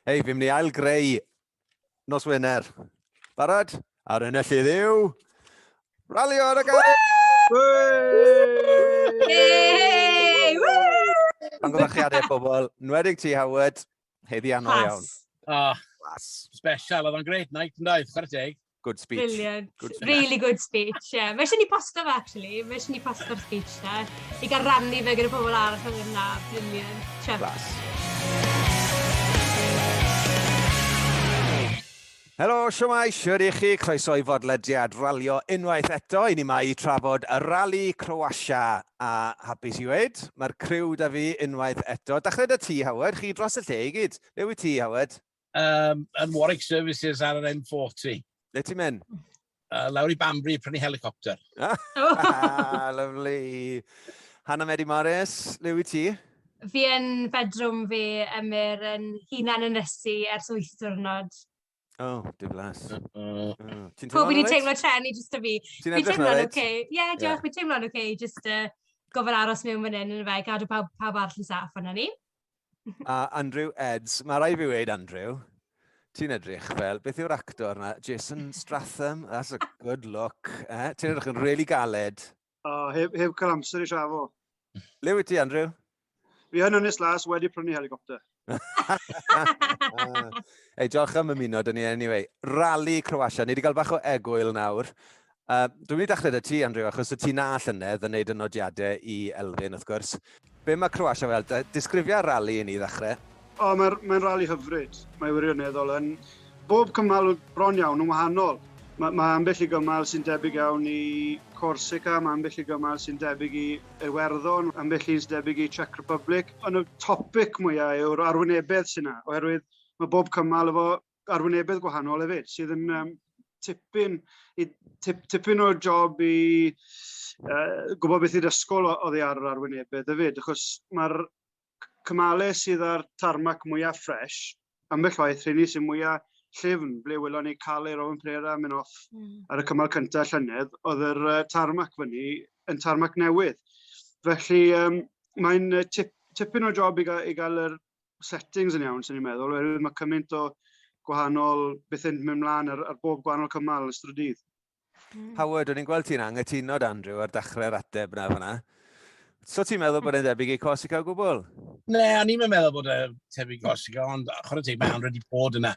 Hei, fi'n mynd i ail greu nos Wener. Barod? A'r enellydd yw... Rally o'r agau! Pan gwybod chi adeg pobl, nwedig ti Howard, heddi anodd iawn. Ah, special, oedd o'n great night, yn dweud, chwarae teg. Good speech. Brilliant. Good speech. Really good speech, ie. Yeah. Mae eisiau ni posto fe, actually. Mae eisiau ni posto'r speech na. I gael rannu fe gyda pobl arall oedd yna. Brilliant. Class. Helo, siwmai, siwr i chi, croeso i fodlediad ralio unwaith eto. I ni mae i trafod y rali Croatia a hapus i weid. Mae'r criw da fi unwaith eto. Dachled y ti, Howard, chi dros y lle i gyd. Neu i ti, Howard? Um, yn Warwick Services ar yr M40. Le ti'n mynd? Uh, lawr i Banbury, prynu helicopter. Ah, lovely. Hannah Medi Morris, le wyt ti? Fi yn fedrwm fi, Emyr, yn hunan yn ysu ers wyth diwrnod. O, oh, diflas. Uh, uh. oh. Ti'n teimlo'n oce? teimlo tren i jyst o fi. Ti'n edrych na fyd? Ie, yeah, diolch, yeah. fi'n teimlo'n oce, jyst uh, gofyn aros mewn fan hyn yn y fe, gadw pawb, pawb arall yn saff yna ni. a Andrew Eds. Mae rai fi wneud Andrew. Ti'n edrych fel, beth yw'r actor yna? Jason Stratham? That's a good look. Eh? Ti'n edrych yn rili really galed. O, oh, heb, heb cael amser i siafo. Le wyt ti, Andrew? Fi yn Ynys Las wedi prynu helicopter. Ei, diolch am ymuno dyn ni anyway. Rally Croatia, ni wedi cael bach o egwyl nawr. Uh, dwi'n mynd i dachled y ti, Andrew, achos y ti na llynedd yn neud y nodiadau i Elfyn, wrth gwrs. Be mae Croatia fel? Disgrifia rali i ni ddechrau. O, mae'n mae rali hyfryd. Mae wirioneddol yn bob cymal bron iawn yn wahanol. Mae, mae ambell i gymal sy'n debyg iawn i Corsica, mae ambell i gymal sy'n debyg i Iwerddon, ambell i'n debyg i Czech Republic. Ond y topic mwyaf yw'r arwynebedd sy'n yna, oherwydd mae bob cymal efo arwynebedd gwahanol hefyd, sydd yn um, tipyn, i, tip, tipyn o job i uh, gwybod beth i'r ysgol oddi ar yr arwynebedd hefyd, achos mae'r cymalau sydd â'r tarmac mwyaf ffres, ambell waith rheni sy'n mwyaf llyfn, ble wylon ni cael ei Rowan Prera mynd off mm. ar y cymal cyntaf llynedd, oedd yr uh, tarmac fyny yn tarmac newydd. Felly um, mae'n tip, tipyn o job i gael, i gael yr settings yn iawn, sy'n ni'n meddwl, oherwydd mae cymaint o gwahanol beth yn mynd mlaen ar, ar bob gwahanol cymal yn ystod y dydd. Hmm. Howard, o'n i'n gweld ti'n angytuno, Andrew, ar dechrau'r ateb na fyna. So ti'n meddwl bod e'n debyg i Corsica o gwbl? Ne, a ni'n meddwl bod e'n tebyg i Corsica, ond chwarae teg mae Andrew wedi bod yna.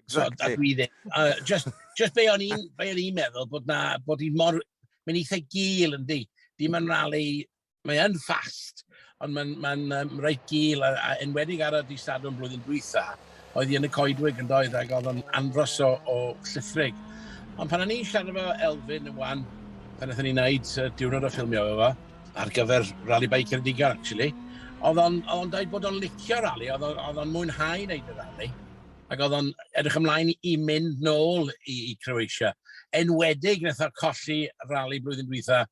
Exactly. So, ddim. Uh, just, just be o'n i'n meddwl bod na, bod hi'n mor, mae'n eitha gil yn di. Dim yn rali mae yn fast, ond mae'n ma um, reit gil, a, a enwedig ar y di Sadwrn blwyddyn dwytha, oedd hi yn y coedwig yn doedd, ac oedd o'n anfros o, o llithrig. Ond pan o'n i'n siarad efo Elfyn yn wan, pan oedden ni'n neud uh, diwrnod o ffilmio efo, ar gyfer Rally Bike Ceredigion, actually. Oedd o'n on dweud bod o'n licio rally, oedd o'n mwynhau wneud y rally, ac oedd o'n edrych ymlaen i mynd nôl i, i Croatia. Enwedig, wnaeth o colli rally blwyddyn dwytha,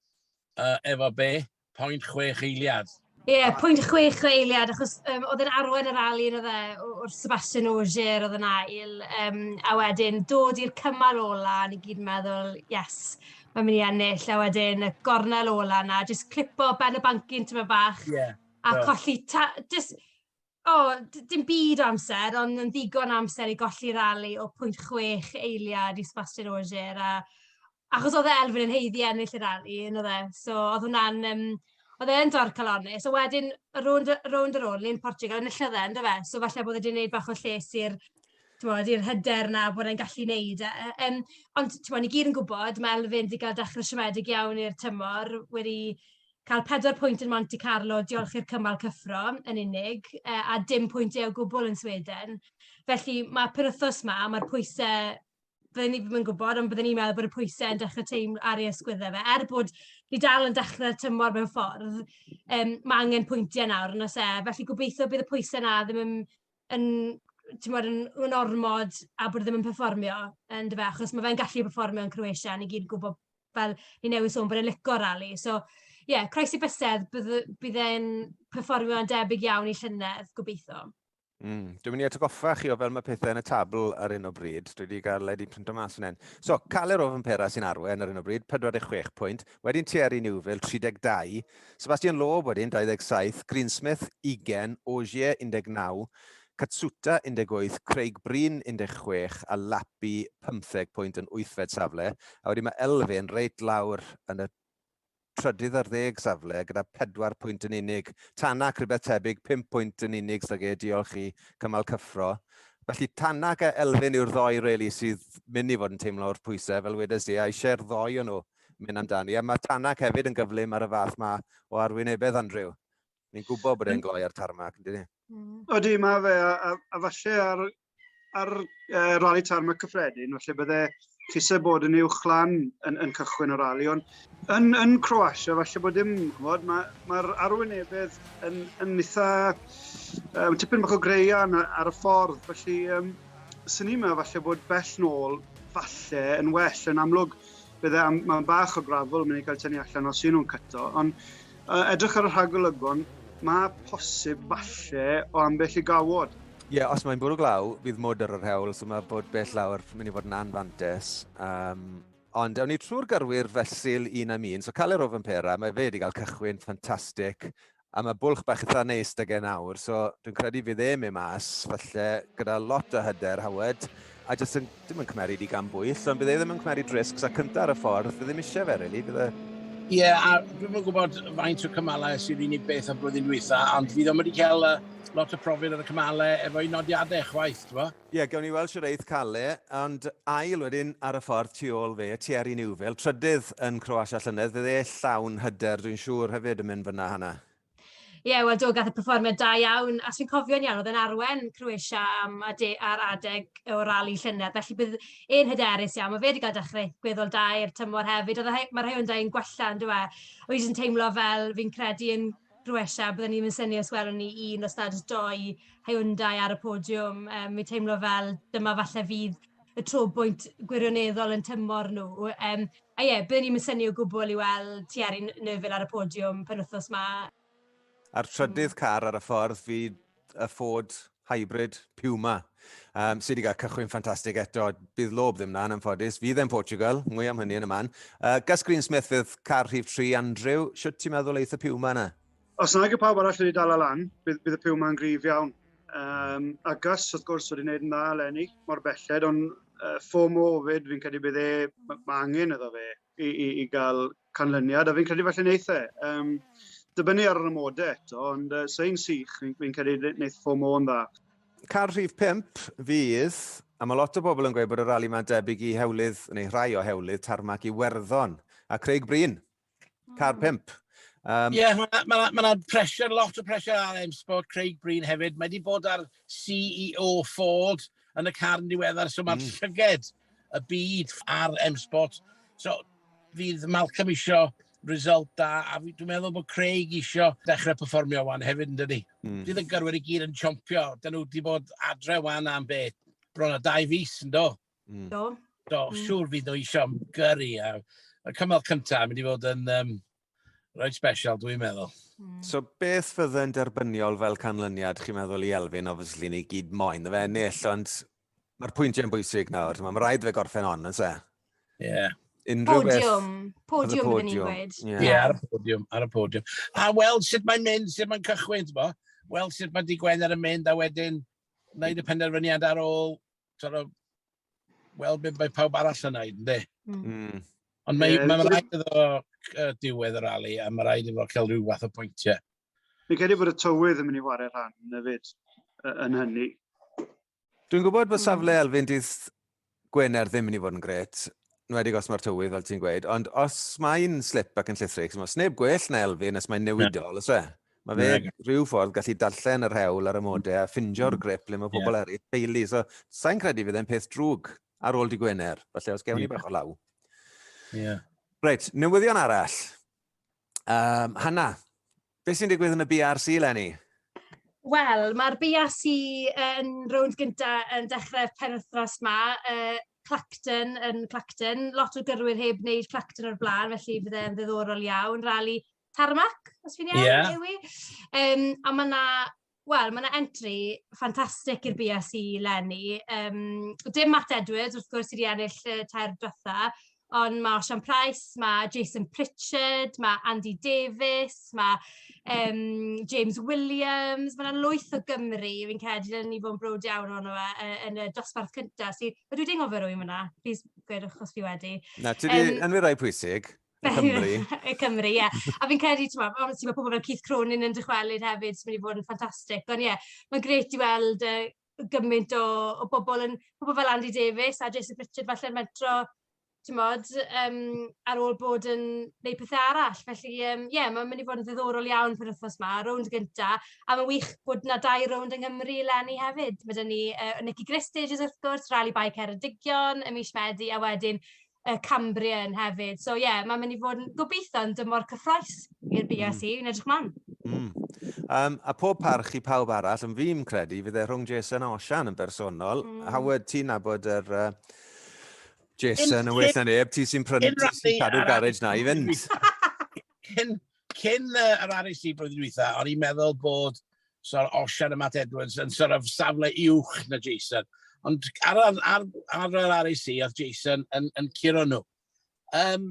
uh, efo be? Point chwech eiliad. Ie, yeah, pwynt chwech o eiliad, achos um, oedd yn arwain yr ali yn y o'r Sebastian Ogier oedd yn ail, um, a wedyn dod i'r cymal ola, ni gyd yn meddwl, yes, mae'n mynd i ennill, a wedyn y gornel ola na, jyst clipo ben y bancyn tyma bach, yeah, a no. colli, ta, just, O, d- dim byd o amser, ond yn ddigon o amser i golli rali o 0.6 eiliad i Sebastian Ogier. A, achos oedd e Elfyn yn heiddi ennill y rali, yn oedd e. So, oedd hwnna'n... Um, oedd e'n dorc calonus. A wedyn, y rownd, rownd ar ôl, ni'n Portugal, yn enillodd e, ynddo fe. So, falle bod e wedi gwneud bach o lles i'r bod, i'r hyder na bod e'n gallu wneud e. Um, ond bod, ni gyd yn gwybod, mae Elfyn wedi cael dechrau siomedig iawn i'r tymor, wedi cael pedwar pwynt yn Monte Carlo, diolch i'r cymal cyffro yn unig, e, a dim pwyntiau o gwbl yn Sweden. Felly mae penwthos yma, mae'r pwysau byddwn ni ddim yn gwybod, ond byddwn ni'n meddwl bod y pwysau yn dechrau teimlo ar ei ysgwyddau fe. Er bod ni dal yn dechrau'r tymor mewn ffordd, um, mae angen pwyntiau nawr yn os e. Felly gobeithio bydd y pwysau na ddim yn, yn tymor yn, yn ormod a bod e ddim yn performio yn dy fe, achos mae fe'n gallu performio yn Croatia, ni gyd yn gwybod fel ni newydd sôn, bod e'n lico rali. So, ie, yeah, croesi bysedd, bydd e'n performio'n debyg iawn i llynedd, gobeithio. Mm. Dwi'n mynd i atgoffa chi o fel mae pethau yn y tabl ar un o bryd. Dwi wedi cael led i print o mas yn hyn. So, Caler o Fympera sy'n arwen ar un o bryd, 46 pwynt. Wedyn Thierry Newville, 32. Sebastian Loeb wedyn, 27. Greensmith, 20. Ogier, 19. Katsuta, 18, Craig Breen, 16, a Lappy, 15 pwynt yn wythfed safle, a wedyn mae Elfyn reit lawr yn y trydydd ar ddeg safle gyda pedwar pwynt yn unig. Tanak, rhywbeth tebyg, pum pwynt yn unig sydd ag e, diolch i cymal cyffro. Felly Tanak a Elfyn yw'r ddoi reli sydd mynd i fod yn teimlo wrth pwysau, fel wedes di, a eisiau'r ddoi o nhw mynd amdani, a mae Tanak hefyd yn gyflym ar y fath ma o arwynebedd, Andrew. Ni'n gwybod bod e'n gloi ar tarmac, yn dydi? Mm. Odi, mae fe, a, a, a falle ar, ar uh, rali tarmac cyffredin, falle bydde Tisa bod yn uwch lan yn, yn cychwyn o rali, ond yn, yn Croatia, falle bod dim, chymod, mae'r ma, ma arwynebedd yn, yn eitha, um, tipyn bach o greian ar y ffordd, felly um, sy'n ni yma, falle bod bell nôl, falle, yn well, yn amlwg, bydde, mae'n bach o grafol, mae'n ei cael tynnu allan os yw nhw'n cyto, ond Uh, edrych ar y rhagolygon, mae posib falle o ambell i gawod. Ie, yeah, os mae'n bwrw glaw, bydd mwd ar yr hewl, so mae bod bell lawr mynd i fod yn anfantes. Um, ond awn ni trwy'r gyrwyr fesul un am un, so cael Caler Ofen Pera, mae fe wedi cael cychwyn ffantastig, a mae bwlch bach eitha neis da gen awr, so dwi'n credu fydd e mewn mas, falle gyda lot o hyder, Howard, a jyst yn Dim yn cymeri di gan bwyll, ond bydd e ddim yn cymeri drisgs a cynta ar y ffordd, bydd ddim eisiau fe, really, bydd e... Ie, yeah, a dwi'n yn gwybod faint o cymalau sy'n unig beth o blwyddyn dwytha, ond fi ddim wedi cael uh, lot o profyd ar y cymalau efo i nodiadau chwaith, ti'n bo? Ie, yeah, gawn ni weld sy'n reith cael e, ond ail wedyn ar y ffordd tu ôl fe, Thierry Neuville, trydydd yn Croatia llynedd, bydd e llawn hyder, dwi'n siŵr hefyd yn mynd fyna hana. Ie, yeah, wel do, gath y perfformiad da iawn, a sy'n cofio'n iawn, oedd e'n arwen Croatia am ade ar adeg o rali llynedd, felly bydd e'n hyderus iawn. Mae fe wedi cael dechrau gweddol da i'r tymor hefyd, oedd e, mae rhai o'n dau'n gwella, yn dweud. E? Oedd yn teimlo fel fi'n credu yn Croatia, byddwn ni'n mynd syni os welwn ni un o stad doi Hyundai ar y podiwm. Um, mi'n teimlo fel dyma falle fydd y trobwynt gwirioneddol yn tymor nhw. Um, A ie, byddwn i'm yn synnu o gwbl i weld Thierry Neuville ar y podiwm penwythnos 'ma. A'r trydydd car ar y ffordd fydd y Ford Hybrid Puma, um, sydd wedi cael cychwyn ffantastig eto. Bydd lob ddim na, yn anffodus. Fydd e'n Portugal, mwy am hynny yn y man. Uh, Gus Greensmith fydd car rhif 3, Andrew. Siwt ti'n meddwl eith y Puma yna? Os nag y pawb arall wedi dal e lan, bydd, bydd y piw ma'n grif iawn. Um, a Gus, wrth gwrs, wedi gwneud yn dda eleni, mor belled, ond uh, FOMO fyd, fi'n credu bydd e, mae angen iddo fe i, i, i gael canlyniad, a fi'n credu felly wneud e. Um, dibynnu ar yr amodau eto, ond uh, sy'n sych, fi'n fi credu wneud FOMO yn dda. Car rhif 5 fydd, a mae lot o bobl yn gweud bod y rali mae'n debyg i hewlydd, neu rhai o hewlydd, tarmac i werddon. A Craig Bryn, Car hmm. pimp. Um, yeah, mae yna ma, ma, ma pressure, lot o pressure ar M Sport, Craig Breen hefyd. Mae wedi bod ar CEO Ford yn y car yn diweddar, so mae'r mm. llyged y byd ar M Sport. So, fydd Malcolm isio result da, a dwi'n meddwl bod Craig isio dechrau performio wan hefyd yn dydi. Mm. Bydd y gyrwyr i gyd yn chompio, dyn nhw wedi bod adre wan am beth, bron o dau fus yn do. Mm. Do? Do, mm. siŵr fydd nhw eisiau am gyrru. A, y cymal cyntaf yn mynd i fod yn um, rhaid special, dwi'n meddwl. Mm. So beth fydde'n derbyniol fel canlyniad, chi'n meddwl i Elfyn, obviously, ni gyd moyn, fe ennill, ond mae'r pwyntiau'n bwysig nawr. Mae'n rhaid fe gorffen on, yn se? Ie. Yeah. Unrhyw podiwm. Beth... Podiwm, podiwm, ni'n gweud. Ie, yeah. yeah, ar y podiwm, ar y podiwm. A weld sut mae'n mynd, sut mae'n cychwyn, ti'n bo? Weld sut mae di Gwener yn mynd, a wedyn wneud y penderfyniad ar ôl sort of, weld beth mae pawb arall yn neud, ynddi? Mm. mm. Ond mae, yeah, mae yeah. rhaid iddo uh, diwedd y rali, a mae rhaid iddo cael rhyw fath o pwyntiau. Fi'n credu bod y tywydd yn mynd i wario rhan yn fyd yn hynny. Dwi'n gwybod bod safle hmm. Elfyn dydd Gwener ddim yn mynd i fod yn gret, wedi os mae'r tywydd, fel ti'n gweud, ond os mae'n slip ac yn llithrig, os neb gwell na Elfyn, os mae'n newidol, yeah. os e? Mae fe yeah. rhyw ffordd gallu darllen yr hewl ar y modau a ffindio'r mm. grip le mae pobl yeah. eraill deulu. So, sa'n credu fydd e'n peth drwg ar ôl di Gwener, falle os gewn ni yeah. bach o law. Yeah. Reit, newyddion arall. Um, Hanna, beth sy'n digwydd yn y BRC, Lenny? Wel, mae'r BRC yn rownd gyntaf yn dechrau penwthnos ma. Uh, Clacton yn Clacton, lot o gyrwyr heb wneud Clacton o'r blaen, felly bydd e'n ddiddorol iawn. Rali Tarmac, os fi'n iawn, yeah. yw i. Um, a mae yna Wel, mae yna entry ffantastig i'r BSC lenni. Um, dim Matt Edwards, wrth gwrs, sydd wedi ennill y tair dwetha, ond mae Osian Price, mae Jason Pritchard, mae Andy Davies, mae um, James Williams, mae yna lwyth o Gymru, fi'n credu, dyn ni fod yn brod iawn o'n fe, e, yn y dosbarth cyntaf. Si, ydw i'n gofio rwy'n fyna? Please, gwedwch os fi wedi. Na, ti wedi um, enwi rai pwysig. y Cymru. y Cymru, ie. A fi'n credu, ti'n meddwl, ond ti'n meddwl pobl fel Keith Cronin yn dychwelyd hefyd, sy'n mynd i fod yn ffantastig. Ond ie, yeah, mae'n gret i weld uh, gymaint o, o bobl, yn, pobl fel Andy Davis a Jason Pritchard falle'n mentro, ti'n modd, um, ar ôl bod yn gwneud pethau arall. Felly, ie, um, yeah, mae'n mynd i fod yn ddiddorol iawn pan wythnos yma, rownd gynta, a mae'n wych bod na dau rownd yng Nghymru lenni hefyd. Mae dyn ni uh, Nicky Gristage, wrth gwrs, Rally Bike Ceredigion, y mis Medi, a wedyn y Cambrian hefyd. So ie, yeah, mae'n mynd i fod yn gobeithio yn dymor cyffroes i'r BRC, mm. yn edrych mlaen. Mm. Um, a pob parch i pawb arall, yn fi'n credu, fydd e rhwng Jason a Osian yn bersonol. Mm. Howard, ti'n nabod yr... Er, uh, Jason, yn well na neb, ti sy'n prynu, ti sy'n cadw'r garage na i fynd. cyn, cyn uh, yr RSC blwyddyn dwytha, o'n i'n meddwl bod So Osian a Matt Edwards yn sort of safle uwch na Jason. Ond ar, ar, ar, ar yr RAC oedd Jason yn, yn curo nhw. Um,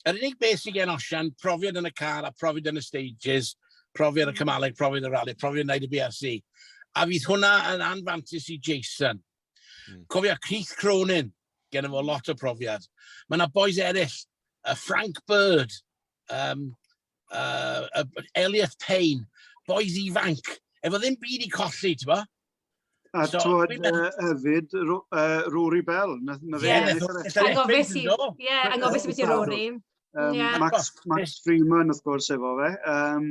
yr unig beth sy'n gen Osian, profiad yn y car a profiad yn y stages, profiad y cymaleg, profiad y rally, profiad wneud y BRC. A fydd hwnna yn anfantis i Jason. Mm. Cofio Keith Cronin, gen fo lot o profiad. Mae yna boes eraill, uh, Frank Bird, um, uh, uh, Elliot Payne, boys ifanc, efo ddim byd i colli, ti'n bo? A so, twod uh, hefyd, uh, Rory Bell. Na, na fe, yeah, angofus i, yeah, angofus i beth i Rory. Um, yeah. Max, Max Freeman, wrth gwrs, efo fe. Um,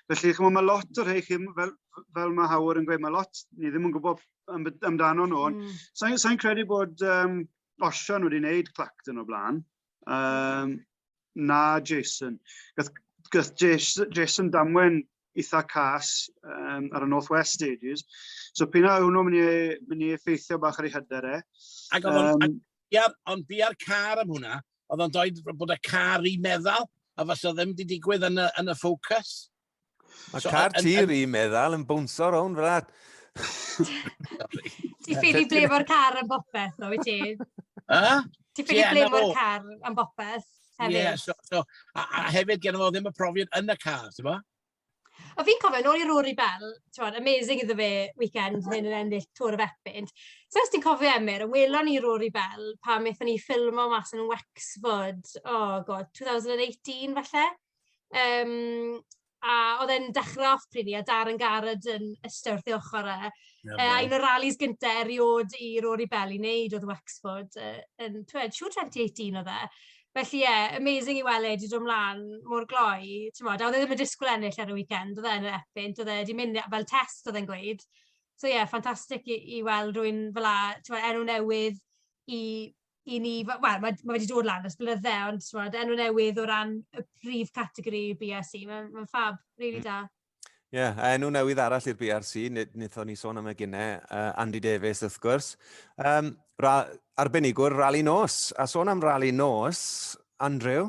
felly, chymod, mae lot o'r rhai chi, fel, fel mae Howard yn gweud, mae lot, ni ddim yn gwybod amdano nhw. Mm. Sa'n sa credu bod um, Osian wedi wneud Clacton o blaen. Um, Na, Jason. Gath, gath Jason damwen eitha cas um, ar y North West Stages. So pyn a hwnnw mynd i, mynd i effeithio bach ar ei hyder e. Ac um, ond bu ar car am hwnna, oedd o'n dweud bod y car i meddwl, a fas o ddim wedi digwydd yn y, yn y ffocws. Mae so, car ti ri meddwl yn bwnsio rown fel that. Ti ffili ble fo'r car yn bopeth, o, wyt ti? Ti ffili ble fo'r car yn bopeth, hefyd? Yeah, so, so, a, a hefyd gen fo ddim y profiad yn y car, ti'n bo? A fi'n cofio, nôl i Rory Bell, ti'n amazing iddo fe weekend hyn yn ennill Tŵr y Fepynt. So, os ti'n cofio Emyr, yn welon ni Rory Bell pan wnaethon ni ffilmo mas yn Wexford, oh god, 2018 falle? Yym, a oedd e'n dechrau off pryd a Darren Garrett yn ystod wrth ei ochr e. Yeah, uh, un o'r rallies gyntaf erioed i Rory Bell i wneud oedd Wexford uh, yn, twed, siw 2018 oedd e. Felly ie, yeah, amazing i weld e wedi dod ymlaen mor gloi. Ti'n modd, a oedd e ddim yn disgwyl ennill ar y weekend, oedd e yn yr epynt, oedd e wedi mynd fel test oedd e'n gweud. So ie, yeah, ffantastig i, i weld rwy'n fel a, ti'n modd, enw newydd i i ni, wel, mae ma fe wedi dod lan ers blynydde, ond timod, enw newydd o ran y prif categori BRC, mae'n ma ffab, rili really mm. da. Ie, yeah, a enw newydd arall i'r BRC, nithon ni sôn am y gynne, uh, Andy Davies wrth gwrs. Um, ra, arbenigwr rali nos, a sôn am rali nos, Andrew,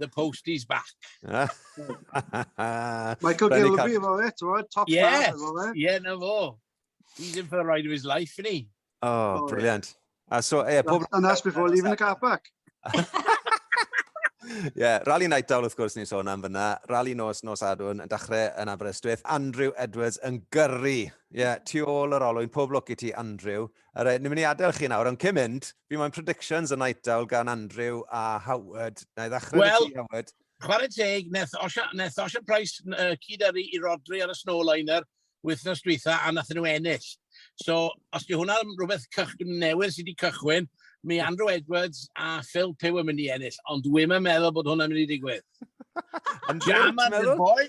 the post is back. Michael Gilby, fo e, ti'n bod, top yeah, fo e. Yeah, na fo. He's in for the ride of his life, isn't he? Oh, oh brilliant. Yeah. Uh, so, yeah, pob... And that's before leaving the car park. yeah, rally night down, wrth gwrs, ni'n sôn am fyna. Rally nos, nos adwn, yn dachrau yn Aberystwyth. Andrew Edwards yn gyrru. Ie, yeah, tu ôl yr olwyn. Pob lwc i ti, Andrew. Alright, ni'n mynd i adael chi nawr, ond cyn mynd, fi moyn predictions y night owl gan Andrew a Howard. Na i ddechrau well, ti, Howard. Wel, chwarae teg, neth Osha Price uh, cyd yrru i Rodri ar y Snowliner wythnos dwytha a nath nhw ennill. So, os di hwnna rhywbeth cych, newydd sydd wedi cychwyn, mi Andrew Edwards a Phil Pew yn mynd i ennill, ond dwi'n meddwl bod hwnna'n mynd i digwydd. Jam ar the boy,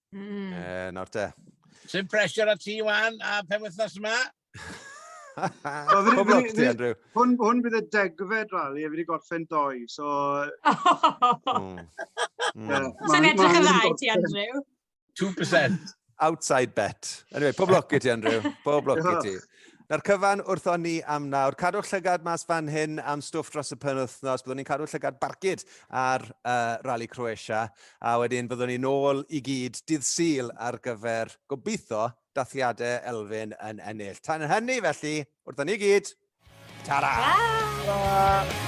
Mm. E, nawr te. Sy'n pressure at ti, Wan, a pen wythnos yma? Pob lwc ti, Andrew. Hwn, hwn bydd y degfed rali, a fi wedi gorffen doi, so... Mm. Mm. Sy'n edrych yn rai ti, Andrew? 2%. Outside bet. Anyway, pob lwc i ti, Andrew. Pob lwc i ti. Na'r cyfan wrtho ni am nawr. Cadwch llygad mas fan hyn am stwff dros y penwythnos. Byddwn ni'n cadw llygad barcud ar uh, Rally Croatia. A wedyn fyddwn ni nôl i gyd dydd Sul ar gyfer, gobeithio, dathliadau Elfyn yn ennill. Tan hynny felly, wrthon ni gyd, tara! Tara!